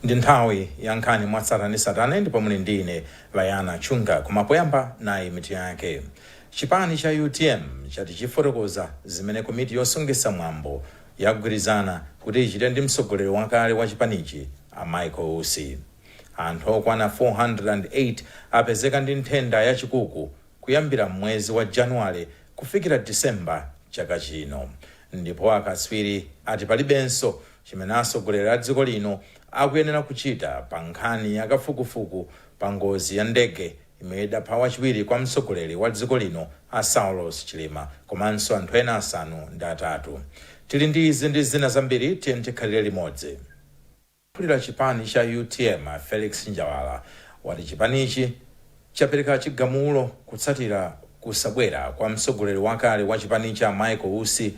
Ndi nthawi ya nkhani mwa tsatanetsatane ndipo muli ndi ine Layana Chunga. Koma poyamba nayi mitu yake. Chipani cha utm chati chifotokoza zimene komiti yosungitsa mwambo yagwirizana kuti ichite ndi mtsogoleri wakale wa chipanichi a Michael Usi. Anthu okwana 408 apezeka ndi nthenda ya chikuku kuyambira m'mwezi wa Januwale kufikira Disemba chaka chino ndipo akatswiri ati palibenso chimene atsogoleri a dziko lino akuyenera kuchita pa nkhani ya kafukufuku pa ngozi ya ndege imene idapha wachiwiri kwa mtsogoleri wa dziko lino a Saulos Chilima komanso anthu ena asanu ndi atatu. Tili ndi izi ndi zina zambiri, tiyeni tikhalire limodzi. Mkulu wa chipani cha utm a Felix Njawala wati chipanichi chapereka chigamulo kutsatira kusabwera kwa mtsogoleri wakale wa chipanichi a Michael Usi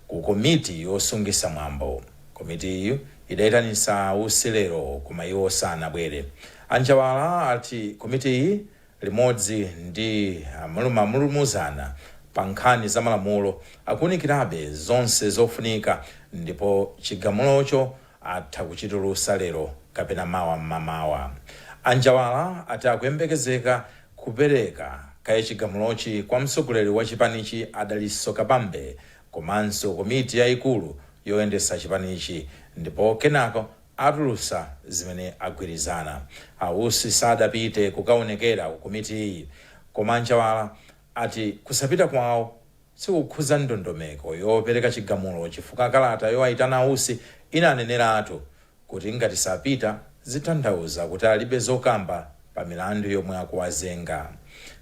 ku komiti yosungitsa mwambo. Komitiyi idaitanitsa a Usi lero koma iwo sanabwere. A Njawala ati komitiyi limodzi ndi mlumamulumuzana pa nkhani za malamulo akuunikirabe zonse zofunika ndipo chigamulocho atha kuchitulutsa lero kapena mawa mmamawa. A Njawala ati akuyembekezeka kupereka kaye chigamulochi kwa mtsogoleri wa chipanichi a Dalitso Kabambe komanso komiti yaikulu yoyendetsa chipanichi ndipo kenako atulutsa zimene agwirizana. A Usi sadapite kukaonekera ku komitiyi koma a Njawala ati kusapita kwawo. sikukhudza ndondomeko yopereka chigamulo chifukwa kalata yowaitana a Usi inaneneratu kuti ngati sapita zitanthauza kuti alibe zokamba pa milandu yomwe akuwazenga.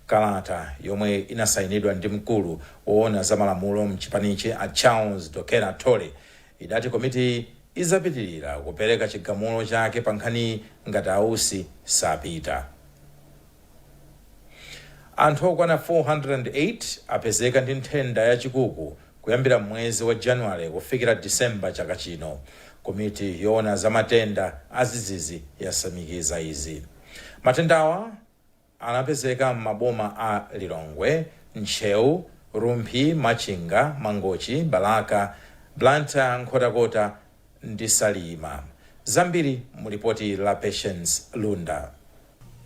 Kalata yomwe inasainidwa ndi mkulu woona za malamulo mchipanichi a Charles Dokera Thole idati komitiyi idzapitilira kupereka chigamulo chake pa nkhaniyi ngati a Usi sapita. Anthu okwana 408 apezeka ndi nthenda ya chikuku kuyambira mwezi wa Januwale kufikira Disemba chaka chino. Komiti yoona za matenda adzidzidzi yasimikiza izi. Matendawa anapezeka m'maboma a Lilongwe, Ntcheu, Rumphi, Machinga, Mangochi, Balaka, Blantyre, Nkhotakota, ndi Salima. Zambiri mu lipoti la Patience Lunda.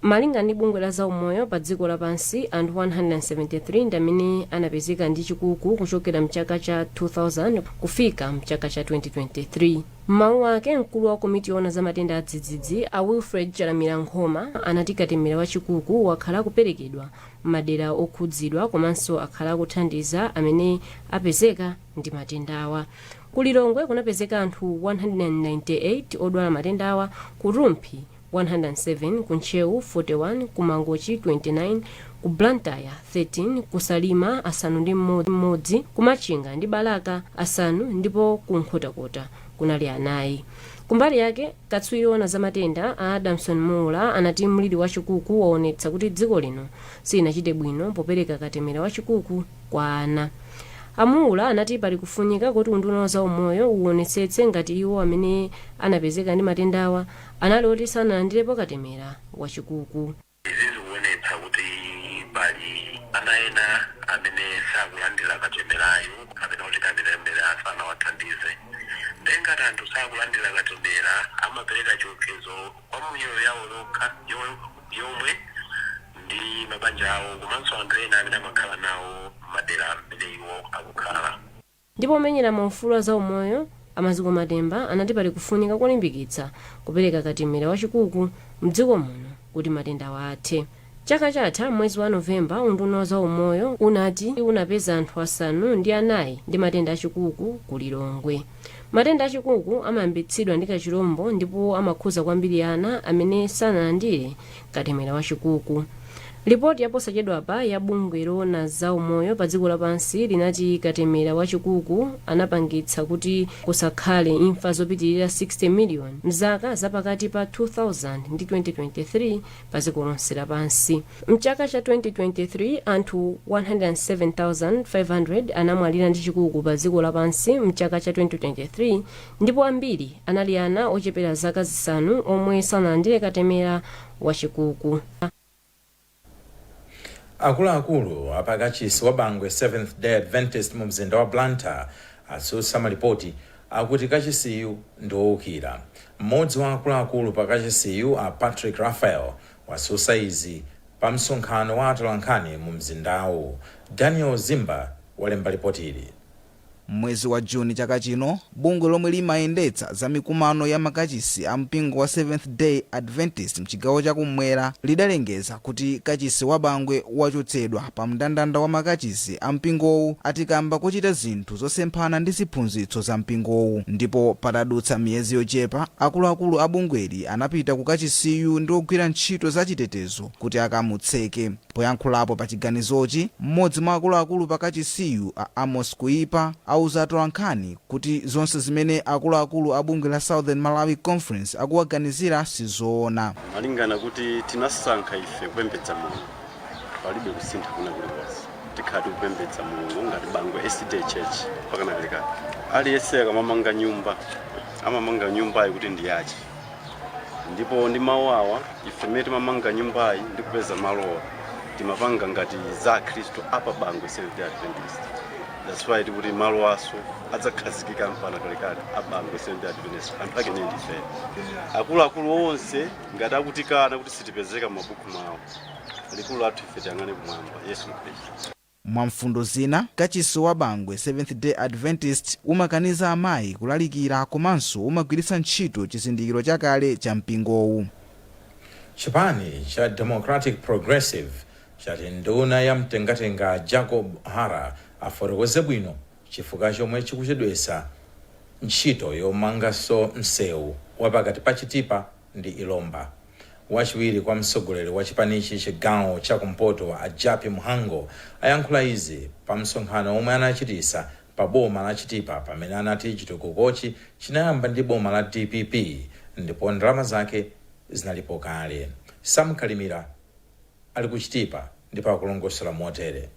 Malinga ndi bungwe la zaumoyo pa dziko lapansi, anthu 173 ndi amene anapezeka ndi chikuku kuchokera mchaka cha 2000 kufika mchaka cha 2023. M'mawu ake, mkulu wa komiti yoona za matenda adzidzidzi, a Wilfred Chalamila Nkhoma, anati katemera wa chikuku wakhala akuperekedwa m'madera okhudzidwa komanso akhala akuthandiza amene apezeka ndi matendawa. Ku Lilongwe kunapezeka anthu 198 odwala matendawa, ku Rumphi 107, ku Ntcheu 41, ku Mangochi 29, ku Blantyre 13, ku Salima asanu ndi mmodzi, ku Machinga ndi Balaka asanu ndipo ku Nkhotakota kunali anayi. Kumbali yake, Katswiri owona za matenda, a Adamson Muula anati mliri wa chikuku waonetsa kuti dziko lino silinachite bwino popereka katemera wa chikuku kwa ana. A Muula anati pali kufunika kuti unduna wa za umoyo uwonetsetse ngati iwo amene anapezeka ndi matendawa anali oti sanalandirepo katemera wa chikuku. Izi zikuonetsa kuti pali ana ena amene sakulandila katemerayu kapena kuti katemera sanawathandize nde ngati anthu sakulandila katemera amapereka chiopsezo kwa miyoyo yawo yokha yomwe ndi mabanja awo komanso anthu ena amene amakhala nawo mmadera amene iwo akukhala. Ndipo omenyera maufulu a zaumoyo a Maziko Matemba anati pali kufunika kolimbikitsa kupereka katemera wa chikuku m'dziko muno kuti matendawa athe. Chaka chatha m'mwezi wa November unduna wa zaumoyo unati unapeza anthu asanu ndi anayi ndi matenda a chikuku ku Lilongwe. Matenda a chikuku amayambitsidwa ndi kachilombo ndipo amakhuza kwambiri ana amene sanalandire katemera wa chikuku lipoti yaposachedwapa ya bungwe loona za umoyo pa dziko lapansi linati katemera wa chikuku anapangitsa kuti kusakhale imfa zopitirira 60 miliyoni mzaka zapakati pa 2000 ndi 2023 pa dziko lonse lapansi mchaka cha 2023 anthu 107,500 anamwalira ndi chikuku pa dziko lapansi mchaka cha 2023 Ndipo ambiri anali ana ochepera zaka zisanu omwe sanalandire katemera wa chikuku. Akuluakulu a pa kachisi wa Bangwe Seventh-Day Adventist mu mzinda wa Blantyre atsutsa malipoti akuti kachisiyu ndi owukira. M'modzi wa akuluakulu pa kachisiyu a Patrick Raphael watsutsa izi pa msonkhano wa atolankhani mu mzindawu. Daniel Zimba walemba lipotili. M'mwezi wa June chaka chino, bungwe lomwe limayendetsa za mikumano ya makachisi a mpingo wa Seventh-day Adventist mchigawo cha kummwera lidalengeza kuti kachisi wa Bangwe wachotsedwa pa mndandanda wa makachisi a mpingowu ati kamba kochita zinthu zosemphana ndi ziphunzitso za mpingowu ndipo patadutsa miyezi yochepa akuluakulu a bungweli anapita ku kachisiyu ndi ogwira ntchito za chitetezo kuti akamutseke. Poyankhulapo pa chiganizochi, m'modzi mwa akuluakulu pa kachisiyu a Amos Kuipa auza atolankhani kuti zonse zimene akuluakulu a bungwe la Southern Malawi Conference akuwaganizira sizoona. Malingana kuti tinasankha ife kupembedza Mulungu palibe kusintha kwina kulikonse tikhala tikupembedza Mulungu ngati Bangwe SDA Church mpakana kalekale. Aliyese akamamanga nyumba amamanga nyumbayo kuti ndi yache. ndipo ndi mawuwawa ife mmene timamanga nyumbayi ndi kupeza malowa timapanga ngati za akhristu a pa Bangwe Seventh Day Adventist that's why tikuti malowaso adzakhazikika mpana kalekale a Bangwe Seventh Day Adventist anthu ake ndiye ndife akuluakulu onse ngati akutikana kuti sitipezeka m'mabuku mwawo likulu lathu ife tiyang'ane kumwamba Yesu Khristu Mwa mfundo zina, kachisi wa Bangwe Seventh Day Adventist umakaniza amayi kulalikira komanso umagwiritsa ntchito chizindikiro chakale cha mpingowu. Chipani cha Democratic Progressive chati nduna ya mtengatenga Jacob Hara afotokoze bwino chifukwa chomwe chikuchedwetsa ntchito yomanganso msewu wa pakati pa Chitipa ndi Ilomba. Wachiwiri kwa mtsogoleri wa chipanichi chigawo cha kumpoto a Jappie Mhango ayankhula izi pa msonkhano omwe anachitisa pa boma la Chitipa pamene anati chitukukochi chinayamba ndi boma la DPP ndipo ndalama zake zinalipo kale. Sam Kalimira. ali ku Chitipa ndipo akulongosola motere.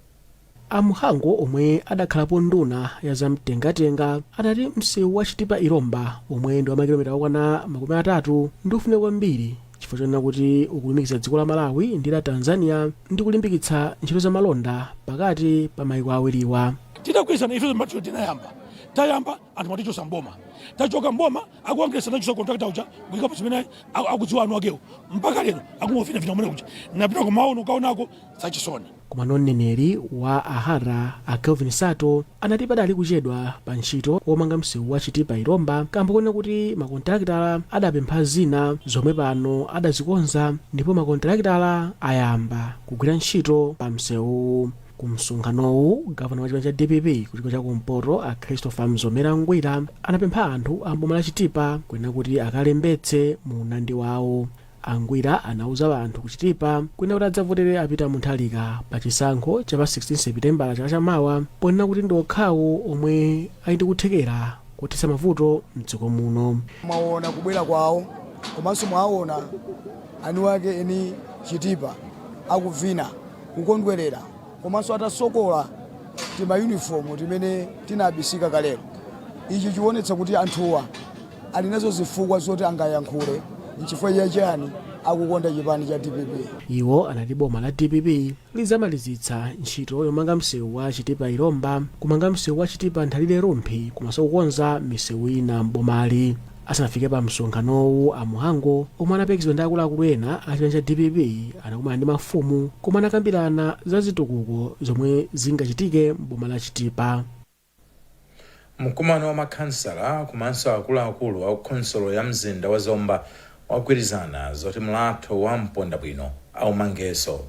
A Mhango omwe adakhalapo nduna ya za mtengatenga adati msewu wa Chitipa-Ilomba omwe ndi wa makilomita okwana makumi atatu ndi ofunika kwambiri chifukwa chonena kuti ukulumikiza dziko la Malawi ndi la Tanzania ndi kulimbikitsa ntchito za malonda pakati pa maiko awiriwa. Tidagwirizana ifenso mphatso tinayamba tayamba anthu mwatichotsa m'boma tachoka m'boma akuangesa nacho contractor uja kuikapo chimene akudziwa ani akewo mpaka lero akungovinavina kumene kuja napitako maono kaonako zachisoni koma mneneri wa a Hara a Kelvin Sato anati padali kuchedwa pa ntchito womanga msewu wa Chitipa Ilomba kamba konena kuti makontalakitala adapempha zina zomwe pano adazikonza ndipo makontalakitala ayamba kugwira ntchito pa msewuwu Ku msonkhanowu, gavana wa chipani cha DPP ku chigawo cha kumpoto a Christopher Mzomera Ngwira anapempha anthu a mboma la Chitipa kunena kuti akalembetse mu unyinji wawo. A Ngwira anauza anthu ku Chitipa kunena kuti adzavotere a Peter Mutharika pa chisankho cha pa 16 Sepitembala chaka cha mawa ponena kuti ndi okhawo omwe ali ndi kuthekera kothetsa mavuto mdziko muno. mwaona kubwera kwawo komanso mwaona aniwake eni Chitipa akuvina. kukondwerera komanso atasokola timayunifomu timene tinabisika kalero ichi chionetsa kuti anthuwa ali nazo zifukwa zoti angayankhule nchifukwa chachiyani akukonda chipani cha dpp iwo anati boma la dpp lizamalizitsa ntchito yomanga msewu wa chitipa ilomba kumanga msewu wa chitipa nthalire rumphi komanso kukonza misewu ina m'bomali Asanafike pa msonkhanowu, a Mhango omwe anaperekezedwa ndi akuluakulu ena a chipani cha dpp anakumana ndi mafumu komwe anakambirana za zitukuko zomwe zingachitike m'boma la Chitipa. Mkumano wa makhansala komanso akuluakulu a khonsolo ya mzinda wa Zomba wagwirizana zoti mlatho wa mpondabwino aumangenso.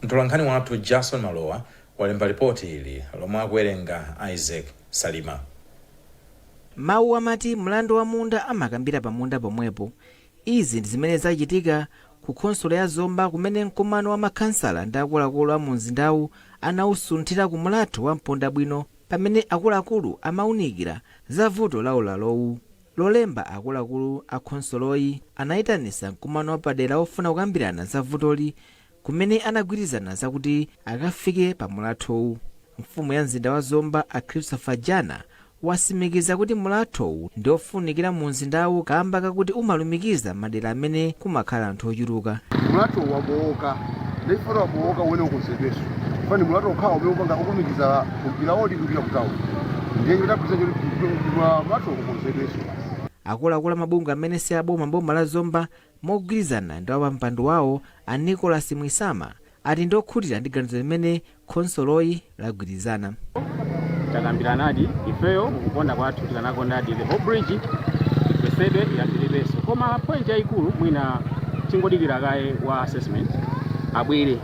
Mtolankhani wathu Jason Malowa walemba lipoti ili lomwe akuwerenga Isaac Salima. Mawu amati mlandu wa munda amakambira pa munda pomwepo. Izi ndi zimene zachitika ku khonsolo ya Zomba kumene mkumano wa makhansala ndi akuluakulu a mu mzindawu anawusunthira ku mlatho wa mpondabwino pamene akuluakulu amawunikira za vuto la ulalowu. Lolemba akuluakulu a khonsoloyi anayitanisa mkumano wapadera wofuna kukambirana za vutoli kumene anagwirizana zakuti akafike pa mulathowu. Mfumu ya mzinda wa Zomba a Christopher Jana wasimikiza kuti mulathowu ndiofunikira mu mzindawu kamba kakuti umalumikiza madera amene kumakhala anthu ochuluka. Mulathowu wabowoka ndikufuna wabowoka umene ukonzedweso fani mulatho okhawo umene upanga ukulumikiza kumpira wodi kupita ku town ndiye chitapisa choti mulatho ukonzedweso. Akuluakulu a mabungwe amene si aboma m'boma la Zomba Mogwirizana ndi wapampando wawo a Nicholas Mwisama ati ndi okhutira ndi ganizo limene khonsoloyi lagwirizana. Takambiranadi, ifeyo mukuona kwathu tikanakondadi the whole bridge igwesedwe ya tilibeso koma point yayikulu mwina tingodikira kaye wa assessment abwere.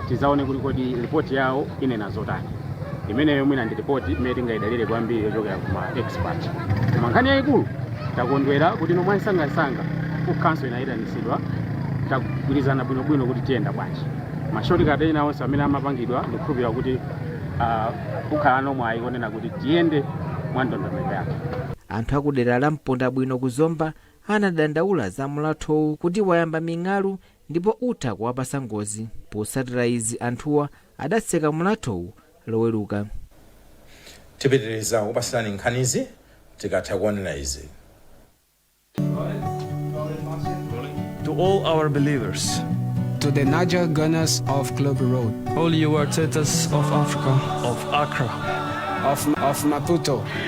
tizaone kuti kodi lipoti yawo inena zotani imeneyo mwina ndi lipoti imene tingayidalire kwambiri yochokera kuma expert koma nkhani yayikulu takondwera kuti nomwe msangamsanga ku council inayitanitsidwa tagwirizana bwinobwino kuti tiyenda bwanji ma shortcut ena onse amene amapangidwa ndikukhulupirira kuti ah, kukhala nomwe ayikonena kuti tiyende mwa ndondomeko yake anthu akudera la mpondabwino ku zomba anadandaula za mlathowu kuti wayamba ming'alu ndipo utha kuwapasa ngozi. Potsatira izi anthuwa adatseka mlathowu loweruka. Tipitiriza kukupatsirani nkhanizi tikatha kuonera izi. To all our believers. To the Naija Gunners of Club Road. All you Artetas of Africa. Of Accra. Of, of Maputo.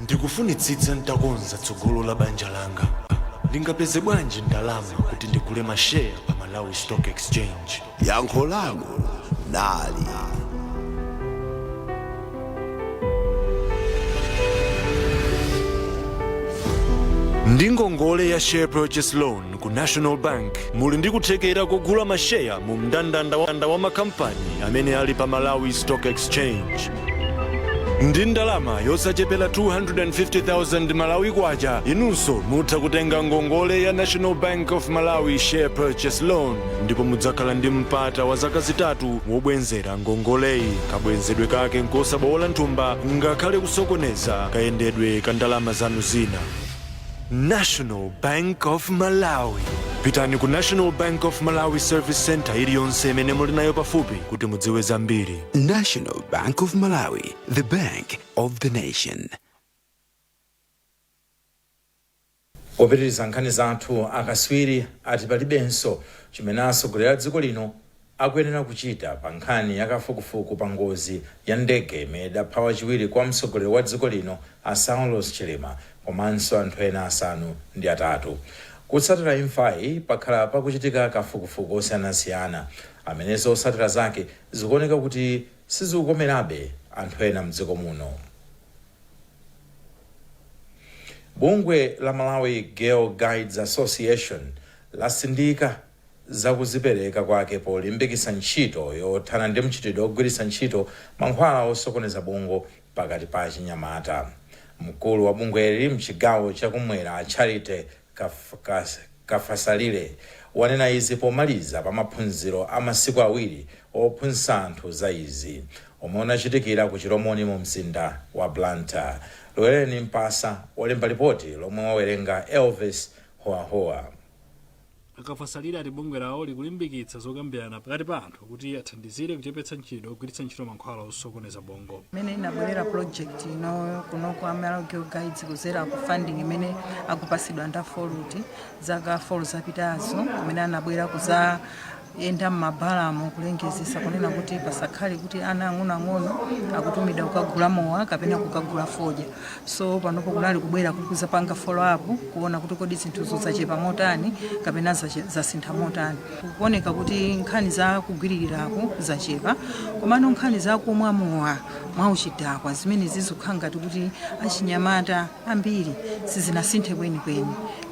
Ndikufunitsitsa n'takonza tsogolo la banja langa. Ndingapeze bwanji ndalama kuti ndigule masheya pa Malawi Stock Exchange? Yankho lanu nali Ndi ngongole ya Share Purchase Loan ku national bank muli ndi kuthekera kogula masheya mu mndandanda wa makampani amene ali pa malawi stock exchange ndi ndalama yosachepera 250,000 malawi kwacha inunso mutha kutenga ngongole ya national bank of malawi share purchase loan ndipo mudzakhala ndi mpata wa zaka zitatu wobwenzera ngongoleyi kabwenzedwe kake nkosabowola nthumba ngakhale kusokoneza kayendedwe ka ndalama zanu zina National Bank of Malawi. Pitani ku National Bank of Malawi Service Center iliyonse imene muli nayo pafupi kuti mudziwe zambiri. National Bank of Malawi, the bank of the nation. popitiriza nkhani zathu akatswiri ati palibenso chimene atsogoleri a dziko lino akuyenera kuchita pa nkhani ya kafukufuku pa ngozi ya ndege imene idapha wachiwiri kwa mtsogoleri wa dziko lino a Saulos Chilima komanso anthu ena asanu ndi atatu. Kutsatira imfayi pakhala pakuchitika kafukufuku osiyanasiyana amene zotsatira zake zikuoneka kuti sizikukomerabe anthu ena mdziko muno. Bungwe la Malawi Girl Guides Association latsindika za kuzipereka kwake polimbikitsa ntchito yothana ndi mchitidwe ogwiritsa ntchito mankhwala osokoneza bongo pakati pa achinyamata. Mkulu wa bungweli mchigawo cha kumwera a Charity Kafasalire wanena izi pomaliza pa maphunziro a masiku awiri ophunzitsa anthu za izi omwe unachitikira ku Chilomoni mu mzinda wa Blantyre. Lwereni Mpasa walemba lipoti lomwe wawerenga Elvis Howahowa. A Kafasalire ati bungwe lawo likulimbikitsa zokambirana pakati pa anthu kuti athandizire kuchepetsa mchitidwe ogwiritsa ntchito mankhwala osokoneza bongo. imene inabwerera project ino kuno kwa Malawi Girl Guides kuzera ku funding imene akupasidwa nda FORUT zaka 4 zapitazo kumene anabwera kuza yenda m'mabalamu kulengezesa kunena kuti pasakhale kuti ana ang'onoang'ono akutumidwa kukagula mowa kapena kukagula fodya so panopo kunali kubwera kuzapanga follow up kuona kuti kodi zinthuzo zachepa motani kapena zasintha motani kukuoneka kuti nkhani za kugwiririraku zachepa komano nkhani za kumwa mowa mwauchidakwa zimenezi zikukhala ngati kuti achinyamata ambiri sizinasinthe kwenikweni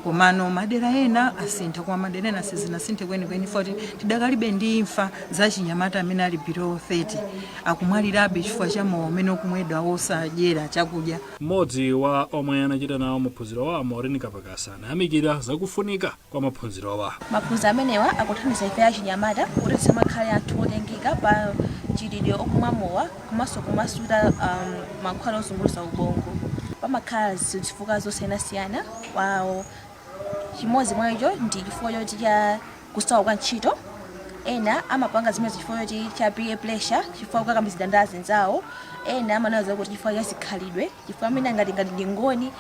komano madera ena asintha koma madera ena sizinasinthe kwenikweni poti tidakalibe ndi imfa za achinyamata amene ali below 30 akumwalirabe chifukwa cha mowa umene ukumwedwa wosadyera chakudya Mmodzi wa omwe anachita nawo maphunzirowa Maureen Kapakasa anayamikira za kufunika kwa maphunzirowa. Maphunziro amenewa akuthandiza ife achinyamata kuti tisamakhale anthu otengeka pa mchitidwe okumwa mowa komanso kumasuta mankhwala ozunguza ubongo. Pamakhala zifukwa zosiyanasiyana kwa awo. Chimodzi mwa icho ndi chifukwa choti cha kusowa kwa ntchito. Ena amapanga zimenezo chifukwa choti cha peer pressure, chifukwa chokakamizidwa ndi azinzawo. Ena amanena za kuti chifukwa cha zikhalidwe. chifukwa amene angati ngati ndi Angoni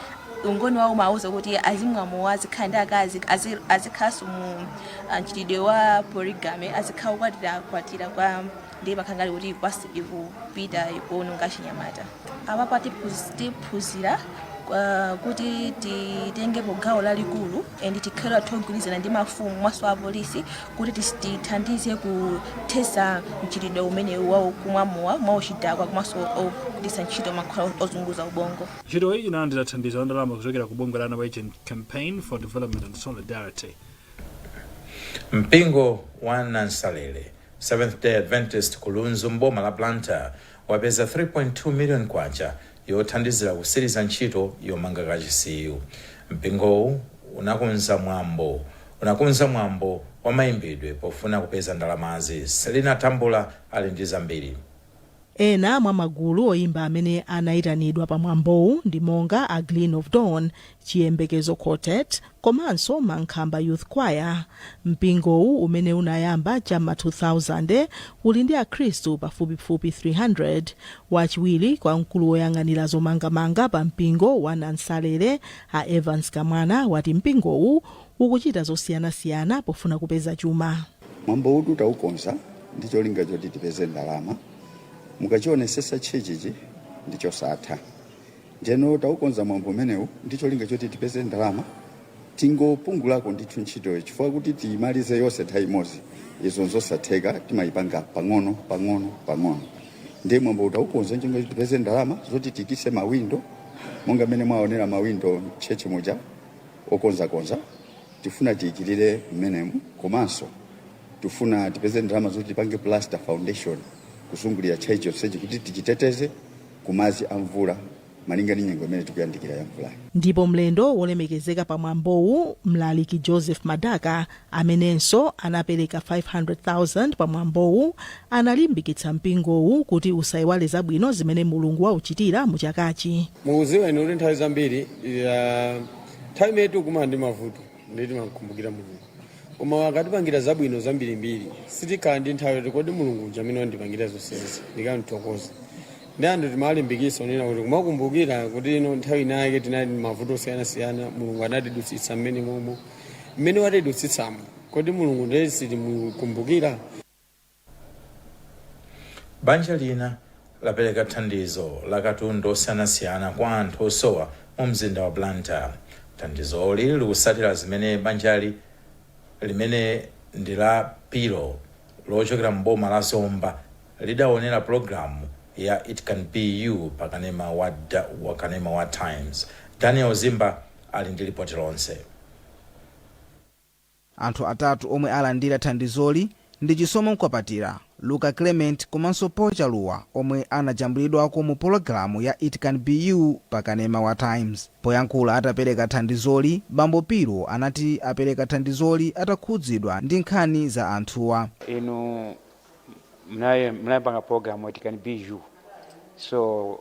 ungoni wawo umawauza kuti azimwa mowa azikhala ndi akazi azi- azikhalanso mu ah, mchitidwe wa polygamy azikhala kukwatira kwatira kwa ndiye zimakhala ngati kuti kwasi ikupita ikuononga chinyamata apapa tiphuz- tiphunzira ah, kuti titengepo gawo lalikulu and tikhale ogwirizana ndi mafumu komanso apolisi kuti tithandize kuthetsa mchitidwe umenewu wa kumwa mowa mwauchidakwa komanso ogwiritsa ntchito mankhwala ozunguza ubongo. Ntchitoyi inalandira thandizo la ndalama kuchokera ku bungwe la Norwegian Campaign for Development and Solidarity. Mpingo wa Nansalele Seventh Day Adventist ku Lunzu m'boma la Blantyre wapeza 3.2 million kwacha yothandizira kutsiriza ntchito yomanga kachisiyu, mpingowu unakonza mwambo wa mayimbidwe pofuna kupeza ndalamazi. Sellina Tambula ali ndi zambiri. Ena mwa magulu oyimba amene anayitanidwa pa mwambowu ndi monga a Gleam of Dawn, Chiyembekezo Quartet, komanso Mankhamba Youth Choir. Mpingowu umene unayamba cha m'ma 2000, uli ndi Akhristu pafupifupi 300. Wachiwiri kwa mkulu woyang'anira zomangamanga pa mpingo wa Nansalele, a Evans Kamwana, wati mpingowu ukuchita zosiyanasiyana pofuna kupeza chuma. Mwambowutu tawukonza ndi cholinga choti tipeze ndalama. Mukachionetsetsa tchalitchichi ndi chosatha. Ndeno taukonza mwambo umenewu ndi cholinga choti tipeze ndalama tingopungulako ndithu ntchitoyo chifukwa kuti tiyimalize yonse nthawi imodzi izo nzosatheka timayipanga pang'ono pang'ono pang'ono ndiye mwambowu taukonza n'cholinga choti tipeze ndalama zoti tiyikitse mawindo monga mmene mwaonera mawindo m'tchalitchi muja okonzakonza tifuna tiyikirire mmenemu komanso tifuna tipeze ndalama zoti tipange plaster foundation kuzungulira tchalitchi yonsechi kuti tichiteteze ku madzi a mvula malinga ndi nyengo imene tikuyandikira ya mvulayi. Ndipo mlendo wolemekezeka pa mwambowu mlaliki Joseph Madaka amenenso anapereka 500,000 pa mwambowu analimbikitsa mpingowu kuti usaiwale zabwino zimene Mulungu wauchitira mu chakachi. Mukudziwa inu kuti nthawi zambiri nthawi imene tikukumana ndi mavuto ndiye timamkumbukira Mulungu. koma wakatipangira zabwino zambirimbiri sitikhala ndi nthawi yoti kodi mulungu uja amene wandipangira zonsezi ndikamthokoza ndiye anthu timalimbikisa unena kuti kumakumbukira kuti ino nthawi inayake tinali ndi mavuto osiyanasiyana mulungu anatidutsitsa mmene momo mmene watidutsitsamo kodi mulungu ndiye sitimukumbukira Banja lina lapereka thandizo la katundu osiyanasiyana kwa anthu osowa mu mzinda wa Blantyre. Thandizoli likutsatira zimene banjali limene ndi la Piro lochokera m'boma la Zomba lidawonera pulogalamu ya It Can Be You pa kanema wa Times. Daniel Zimba ali ndi lipoti lonse. Anthu atatu omwe alandira thandizoli ndi Chisomo Nkwapatira, Luka Clement komanso Paul Chaluwa omwe anajambulidwako mu pologalamu ya It Can Be You pa kanema wa Times. Poyankhula atapereka thandizoli, Bambo Piro anati apereka thandizoli atakhudzidwa ndi nkhani za anthuwa. Inu munapanga pologalamu It Can Be You so.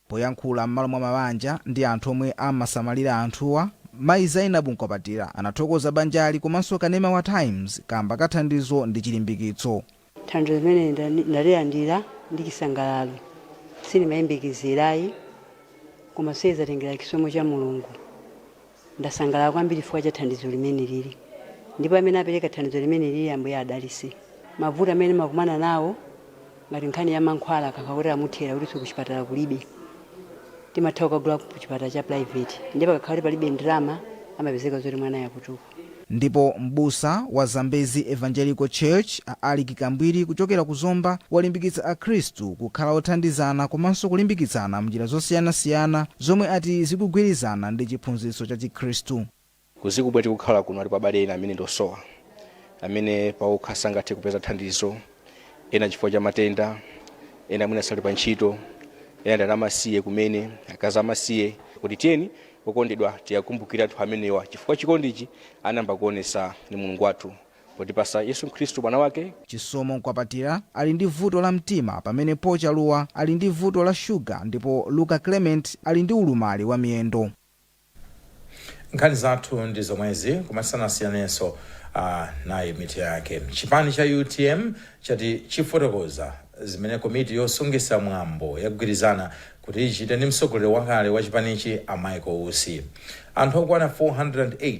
Poyankhula m'malo mwa mabanja ndi anthu omwe amasamalira anthuwa, mayi Zainabu Nkwapatira anathokoza banjali komanso kanema wa Times kaamba ka thandizo ndi chilimbikitso. Thandizo limeneli ndalilandira ndi chisangalalo, sindimayembekezera ayi koma zatengera chisomo cha Mulungu. Ndasangalala kwambiri chifukwa cha thandizo limenelili ndipo amene apereka thandizo limenelili Ambuye adalise. Mavuto amene ndimakumana nawo ngati nkhani ya mankhwala akakhala kuti amuthera kuti kuchipatala kulibe timatha kukagula kuchipatala cha private ndiye pakakhala kuti palibe ndalama amapezeka zoti mwanayo akutupa. Ndipo m'busa wa Zambezi Evangelical Church a Alick Kambwiri kuchokera ku Zomba walimbikitsa akhristu kukhala othandizana komanso kulimbikitsana m'njira zosiyanasiyana zomwe ati zikugwirizana ndi chiphunzitso cha chikhristu. Kudziko mmene tikukhala kuno alipo abale ena amene ndi osowa amene pawokha sangathe kupeza thandizo. ena chifukwa cha matenda ena mwina sali pa ntchito ena ndi ana amasiye kumene akazi amasiye kuti tiyeni okondedwa tiwakumbukire anthu amenewa chifukwa chikondichi anayamba kuonesa ndi mulungu wathu potipasa yesu khristu mwana wake Chisomo Nkwapatira ali ndi vuto la mtima pamene Paul Chaluwa ali ndi vuto la shuga ndipo Luka Clement ali ndi ulumali wa miyendo. Nkhani zathu ndi zomwezi koma tisanasiyane nayinso mitu yake. Chipani cha utm chati chifotokoza zimene komiti yosungisa mwambo yagwirizana kuti ichite ndi mtsogoleri wakale wa chipanichi a Michael Usi. Anthu okwana 408.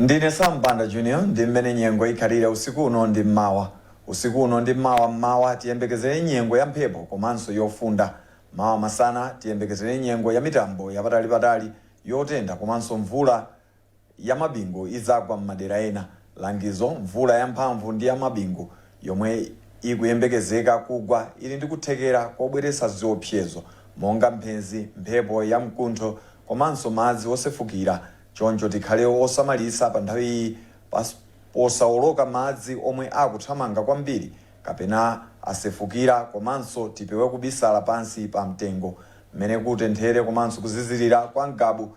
ndine sam banda junior ndi mmene nyengo ikhalire usiku uno ndi mmawa usiku uno ndi mmawa mmawa tiyembekezere nyengo ya mphepo komanso yofunda mawa masana tiyembekezere nyengo ya mitambo yapatali patali yotentha komanso mvula ya mabingu idzagwa m'madera ena. Langizo, Mvula yamphamvu ndi ya mabingu yomwe ikuyembekezeka kugwa ili ndi kuthekera kobweretsa ziopsyezo monga mphenzi, mphepo ya mkuntho komanso madzi osefukira choncho tikhale osamalitsa pa nthawi iyi posawoloka madzi omwe akuthamanga kwambiri kapena asefukira komanso tipewe kubisala pansi pa mtengo m'mene kutenthere komanso kuzizirira kwa Ngabu